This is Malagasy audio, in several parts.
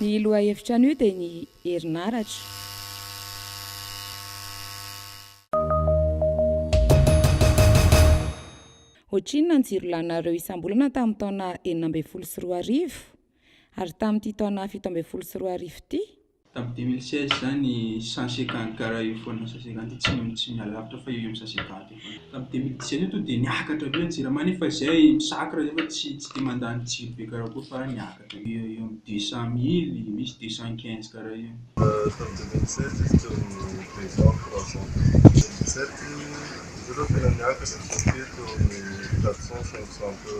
Ny lohahevitra anio dia ny herinaratra. Ohatrinona ny jiro laninareo isam-bolana tamin'ny taona enina ambin'ny folo sy roa arivo? Ary tamin'ity taona fito ambin'ny folo sy roa arivo ity, Tamin'ny 2016 izany, Sanche Gangara io foana, Sanche Gandhi tsy tsy miala lavitra fa io io Sanche Gandhi io foana. Tamin'ny 2017 io tonga dia niakatra be ny jirama nefa izay misakra izay fa tsy tsy dia mandany jiro be karaha akory fa niakatra eo eo amin'ny deux cent mille, misy deux cent quinze karaha io. Tamin'ny 2017 izy teo amin'ny deux cent, trois cent teo. 2017 izy ireo tena niakatra, teo amin'ny quatre cent, cinq cent teo.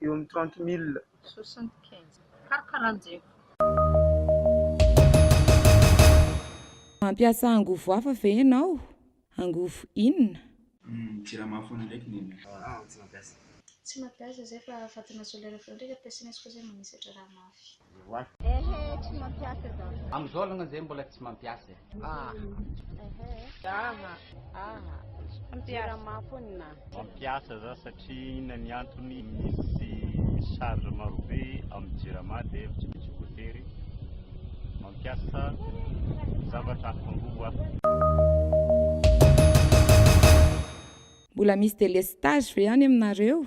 eo amin'ny trente mille. Soixante quinze. Karakaranjefo. Mampiasa angovo hafa ve ianao? Angovo inona? Humm jirama foana ndraiky ny anay. Aah tsy mampiasa. Tsy mampiasa zay fa fatana solaire feo ndraika ampiasaina izy koa zay manisatra raha mafy. Ewa. Ehe tsy mampiasa za. Am zao alongany zay mbola tsy mampiasa e. Aha. Ehe. Aha. Aha. Mampiasa. Mafonina. Mampiasa za satria inona ny antony misy charge marobe am jirama dia tsy misy voatery mampiasa zavatra hafa angovo aho. Mbola misy délestage ve any aminareo?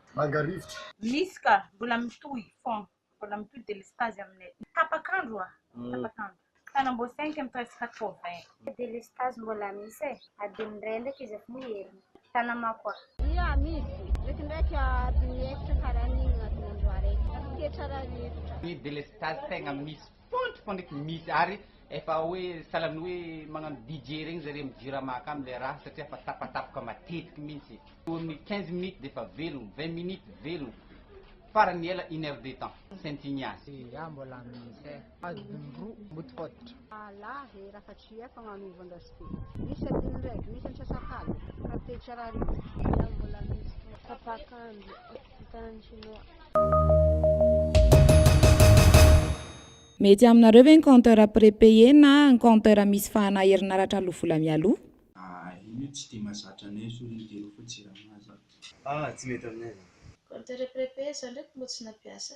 manga rivotra. Misy ka, mbola mitohy fon, mbola mitohy delestazy aminay tapak'andro a, tapak'andro. Tanambao cinq amby presque quatre vingt. Delestazy mbola misy e, adin'ny iray ndraiky izy efa heriny. Tanamako a. Ia, misy, ndraikindraiky adin'ny efitra ka raha ny adin'andro araiky, tafaketra raha rivotra. Ny delestazy tegna misy. Tonto fa nety misy ary efa hoe salan'ny hoe magnano DJ regny zareo am jirama akagny le raha satria efa tapatapoka matetiky mintsy. Eo amin'ny quinze minutes defa velogno, vingt minutes velogno, farany ela une heure de temps saintsigna. Iah mbola misy eh. Adiny roa mbo tsy fototro. Alà eh raha fa tsy iah fa magnova ndras ty. Misy adiny raiky, misy antsasak'aligny. Raha te tsy arary izy. Iah mbola misy tapak'andro. Tanàn'ny Shinoa. Mety aminareo ve ny compteur prépayé na ny compteur misy fahana herinaratra aloa vola mialoha? Ah io anie tsy dia mazatra anay zao io dia rofo jirama zany. Ah tsy mety aminay zany. Compteur prépayé zany reto moa tsy nampiasa.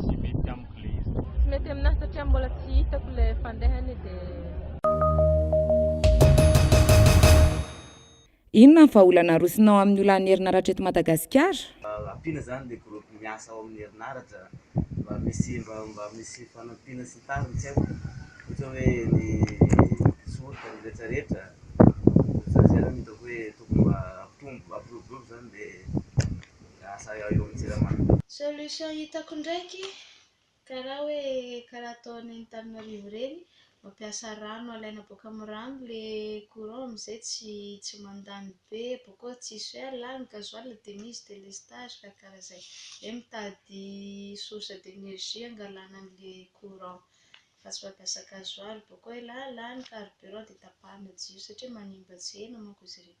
Tsy mety amiko le izy. Tsy mety aminahy satria mbola tsy hitako le fandehany de. Inona ny vahaolana arosonao amin'ny olan'ny herinaratra eto Madagasikara? Ampiana zany le groupe miasa ao amin'ny herinaratra mba misy mba mba misy fanampiana sy ny tariny tsy haiko ohatra hoe ny soritra ny rehetra rehetra zany zany no hitako hoe tokony mba ampitombo ampirovirovy zany le Lasa eo amin'ny Jirama. Solution hitako ndraiky karaha hoe karaha ataon'ny Antananarivo ireny mampiasa rano alaina boaka amin'ny rano le courant amizay tsy tsy mandany be bokeo tsy soir la ny gasoil de misy délestage karaha karaha zay zay mitady source d'énergie angalana anle courant fa tsy mampiasa gasoil bokeo la la ny carburant de tapahana jiro satria manimba tsena manko izy ireny